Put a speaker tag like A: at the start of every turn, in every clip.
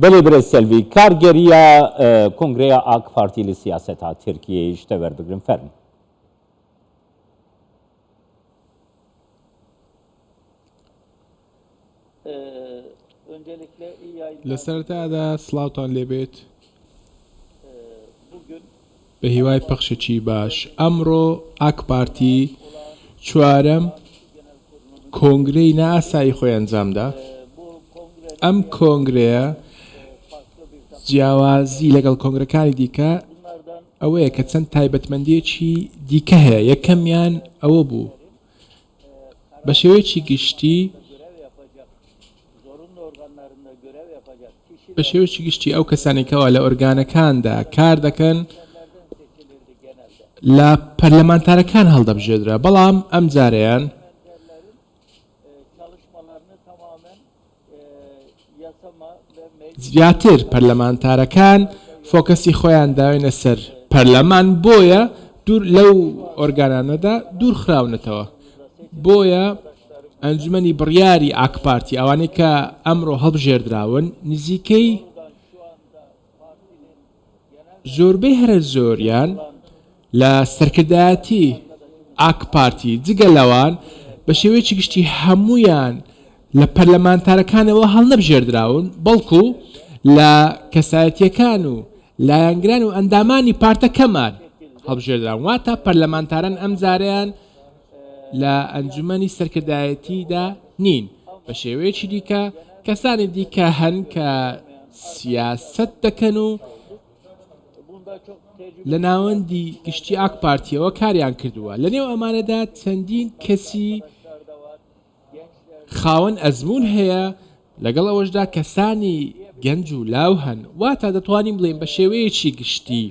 A: بەلێ برێ سەلوی کارگەریە کۆنگرەیە ئاک پارتی لە سیاست ها ترکیەیش تەوەر بگرن فەرمی
B: لە سەرەتادا سڵاوتان لێبێت بە هیوای پەخشێکی باش ئەمڕۆ ئاکپارتی چوارەم کۆنگرەی ناسایی خۆی ئەنجامدا ئەم کۆنگرەیە جیاوازی لەگەڵ کۆنگرەکانی دیکە ئەوەیە کە چەند تایبەتمەندێکی دیکە هەیە یەکەمیان ئەوە بوو بە شێوەیەکی گشتی بە شێوەیەکی گشتی ئەو کەسانێکەوە لە ئۆرگانەکاندا کار دەکەن لە پەرلەمانتارەکان هەڵدەبژێدرا بەڵام ئەم جارەیان زیاتر پەرلەمانتارەکان فۆکەسی خۆیان داوینە سەر پەرلەمان بۆیە دوور لەو ئۆرگانانەدا دوور خراونەتەوە بۆیە ئەنجومەنی بڕیاری ئاکپارتی ئەوانەی کە ئەمڕۆ هەڵبژێردراون نزیکەی زۆربەی هەرە زۆریان لە سەرکردایەتی ئاکپارتی، جگە لەوان بە شێوەیەکی گشتی هەموویان لە پەرلەمانتارەکانەوە هەڵنەبژێردراون، بەڵکو لە کەسایەتییەکان و لایەنگران و ئەندامانی پارتەکەمان هەڵبژێردراون، واتە پەرلەمانتاران ئەمجارەیان لە ئەنجومەنی سەرکردایەتییدا نین، بە شێوەیەکی دیکە کەسانی دیکە هەن کە سیاسەت دەکەن و لە ناوەندی گشتی ئاکپارتییەوە کاریان کردووە، لەنێو ئەمانەدا چەندین کەسی خاوەن ئەزموون هەیە، لەگەڵ ئەوەشدا کەسانی گەنج و لاو هەن، واتە دەتوانین بڵێین بە شێوەیەکی گشتی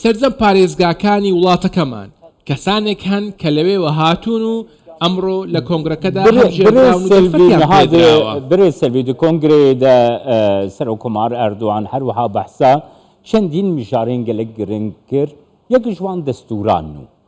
B: سەرجەم پارێزگاکانی وڵاتەکەمان کەسانێک هەن کە لەوێوە هاتوون و ئەمڕۆ لە کۆنگرەکەدا هەڵبژێردراون و دەرفەتیان پێدراوە.
A: برێ سەلبی دو کۆنگرەیێ دە سەرۆککۆمار ئەردوان هەروەها بەحسا چەندین مژارەێن گەلەک گرنگ کرد، یەکیش وان دەستووران نوو.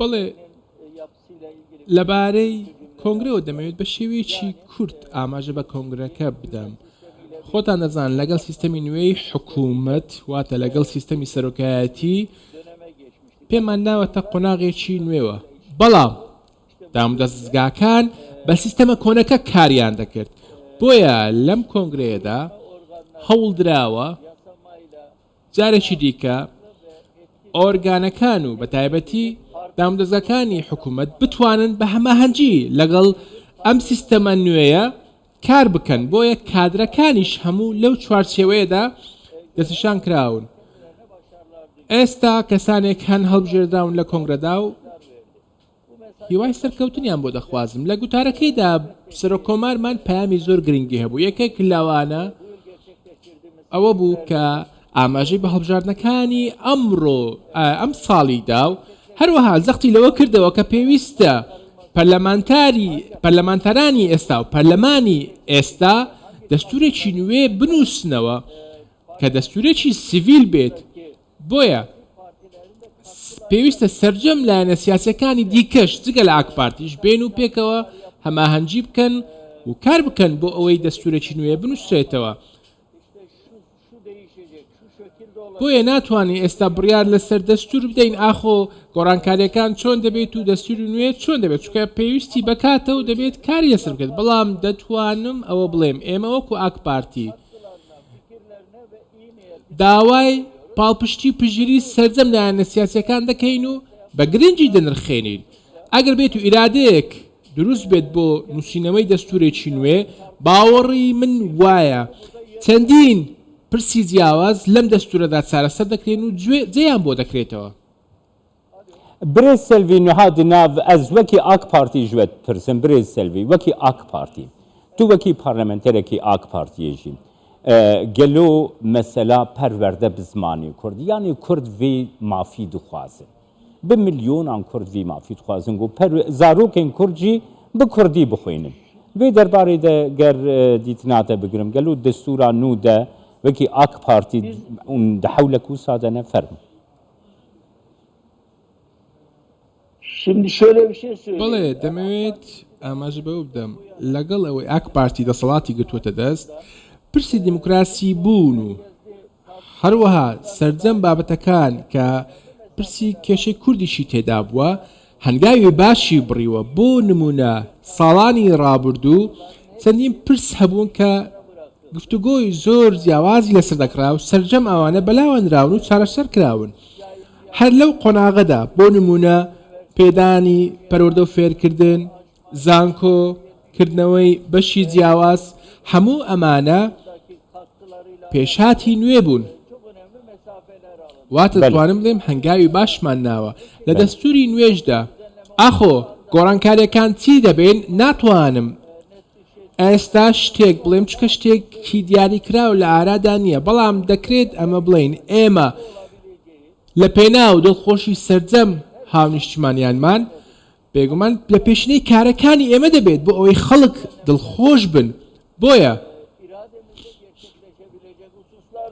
B: بەڵێ، لەبارەی کۆنگرەوە دەمەوێت بە شێوەیەکی کورت ئاماژە بە کۆنگرەکە بدەم. خۆتان دەزان لەگەڵ سیستەمی نوێی حکوومەت واتە لەگەڵ سیستەمی سەرۆکایەتی پێمان ناوەتە قۆناغێکی نوێوە بەڵام دام دەستگاکان بە سیستەمە کۆنەکە کاریان دەکرد بۆیە لەم کۆنگرەیەدا هەوڵدراوە جارێکی دیکە ئۆرگانەکان و بە تایبەتی دامودەزگاکانی حکوومەت بتوانن بە هەماهەنگی لەگەڵ ئەم سیستەمە نوێیە کار بکەن، بۆیە کادرەکانیش هەموو لەو چوارچێوەیەدا دەستنیشان کراون. ئێستا کەسانێک هەن هەڵبژێردراون لە کۆنگرەدا و، هیوای سەرکەوتنیان بۆ دەخوازم. لە گوتارەکەیدا سەرۆک کۆمارمان پەیامی زۆر گرنگی هەبوو، یەکێک لەوانە ئەوە بوو کە ئاماژەی بە هەڵبژاردنەکانی ئەمڕۆ ئەم ساڵی دا و هەروەها زەختی لەوە کردەوە کە پێویستە پەرلەمانتاری پەرلەمانتارانی ئێستا و پەرلەمانی ئێستا دەستورێکی نوێ بنووسنەوە کە دەستورێکی سڤیل بێت، بۆیە پێویستە سەرجەم لایەنە سیاسیەکانی دیکەش جگە لە ئاکپارتیش بێن و پێکەوە هەماهەنگی بکەن و کار بکەن بۆ ئەوەی دەستورێکی نوێ بنووسێتەوە بۆیە ناتوانین ئێستا بڕیار لەسەر دەستور بدەین ئاخۆ گۆڕانکاریەکان چۆن دەبێت و دەستور نوێ چۆن دەبێت چکە پێویستی بکاتە و دەبێت کاری لەسەر بکەێت بەڵام دەتوانم ئەوە بڵێم ئێمە وەکو ئاک پارتی داوای پاڵپشتی و پشتگیری سەرجەم لایەنە سیاسییەکان دەکەین و بە گرنگی دەنرخێنین ئەگەر بێت و ئیرادەیەک دروست بێت بۆ نووسینەوەی دەستوورێکی نوێ، باوەڕی من وایە چەندین پرسی جیاواز لەم دەستوورەدا چارەسەر دەکرێن و جێیان بۆ دەکرێتەوە.
A: برێز سێلڤی نهادی ناڤ ئەز وەکی ئاک پارتی ژوەت پرسم برێز سێلڤی وەکی ئاک پارتی تو وەکی پارلمنتەرەکی ئاک پارتیە ژی ئە گەلۆ مەسەلا پەروەردە بز مانی کورد یانی کورد ڤی مافی دخوازن ب ملیونان کورد ڤی مافی دخوازن گۆ پەرو زاروکێن کورد ژی ب کوردی بخوینن ڤی دەربارەی دە گەر دیتناتە بگرم گەلۆ دستورا نوو دە وەکی ئاک پارتی ئون دە حەولە کوسا دەنە فەرمو.
C: بەڵێ دەمەوێت
B: ئاماژە بەوە بدەم لەگەڵ ئەوەی ئاک پارتی دەسەڵاتی گرتووەتە دەست پرسی دیموکراسی بوون و هەروەها سرجەم بابەتەکان کە پرسی کێشەی کوردیشی تێدا بووە هەنگاوی باشی بڕیوە، بۆ نموونە ساڵانی ڕابردوو چەندین پرس هەبوون کە گفتوگۆی زۆر جیاوازی لەسەر دەکرا و سەرجەم ئەوانە بەلاوەنراون و چارەسەر کراون هەر لەو قۆناغەدا، بۆ نموونە پێدانی پەروەردە و فێرکردن، زانکۆ، کردنەوەی بەشی جیاواز، هەموو ئەمانە پێشهاتی نوێ بوون. واتە بەلێ. توانم بڵێم هەنگاوی باشمان ناوە. لە بەلێ. دەستوری نوێشدا ئاخۆ گۆڕانکاریەکان چی دەبێن ناتوانم ئێستا شتێک بڵێم چونکە شتێکی دیاریکراو لە ئارادا نییە، بەڵام دەکرێت ئەمە بڵێین ئێمە لە پێناو دڵخۆشی سەرجەم هاونیشتمانیانمان بێگومان لە پێشینەی کارەکانی ئێمە دەبێت بۆ ئەوەی خەڵک دڵخۆش بن، بۆیە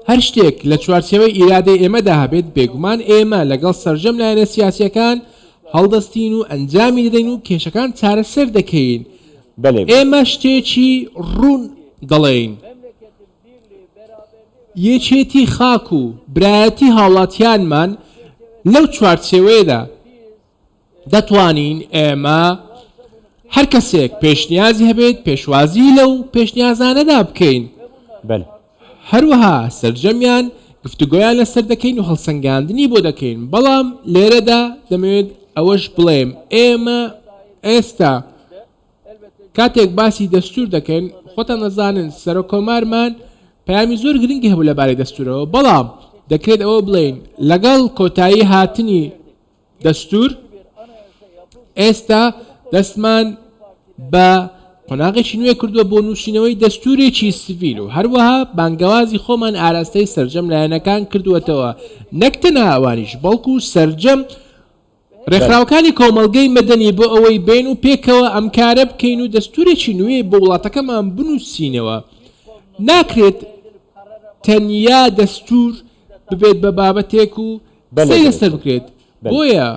B: هەر شتێک لە چوارچێوەی ئیرادەی ئێمەدا هەبێت، بێگومان ئێمە لەگەڵ سەرجەم لایەنە سیاسییەکان هەڵدەستین و ئەنجامی دەدەین و کێشەکان چارەسەر دەکەین، ئێمە شتێکی ڕوون دەڵێین، یەکێتی خاک و برایەتی هاوڵاتیانمان لەو چوارچێوەیەدا دەتوانین ئێمە هەر کەسێک پێشنیازی هەبێت پێشوازی لەو پێشنیازانەدا بکەین بەل هەروەها سەرجەمیان گفتوگۆیان لەسەر دەکەین و هەڵسەنگاندنی بۆ دەکەین بەڵام لێرەدا دەمەوێت ئەوەش بڵێم ئێمە ئێستا کاتێک باسی دەستور دەکەین خۆتان نەزانن سەرۆک کۆمارمان پەیامی زۆر گرنگی هەبوو لەبارەی دەستورەوە بەڵام دەکرێت ئەوە بڵێین لەگەڵ کۆتایی هاتنی دەستوور، ئێستا دەستمان بە قۆناغێکی نوێ کردووە بۆ نووسینەوەی دەستوورێکی سڤیل و هەروەها بانگەوازی خۆمان ئاراستەی سەرجەم لایەنەکان کردووەتەوە، نەک تەنها ئەوانیش، بەڵکو سەرجەم رێکخراوەکانی کۆمەڵگەی مەدەنی بۆ ئەوەی بێن و پێکەوە ئەم کارە بکەین و دەستوورێکی نوێ بۆ وڵاتەکەمان بنووسینەوە، ناکرێت تەنیا دەستوور ببێت بە بابەتێک و بەلێ قسەی لەسەر بەرێزم بکرێت بەلێ. بۆیە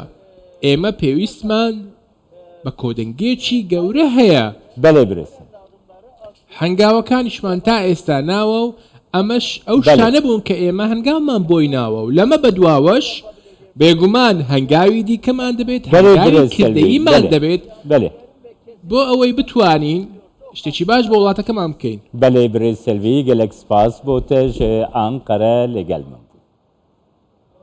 B: ئێمە پێویستمان بە کۆدەنگێکی گەورە هەیە. بەلێ برێزم. هەنگاوەکانیشمان تا ئێستا ناوە و ئەمەش ئەو بەلێ. شتانە بوون کە ئێمە هەنگاومان بۆی ناوە و لەمە بەدواوەش بێگومان هەنگاوی دیکەمان دەبێت بەلێ هەنگاوی برێز سەلمی کردەییمان بەلێ دەبێت بەلێ. بۆ ئەوەی بتوانین شتێکی باش بۆ وڵاتەکەمان بکەین.
A: بەلێ برێز
B: سەلمی
A: گەلەک سپاس بۆتەش ئانقەرە لەگەلمم بوو.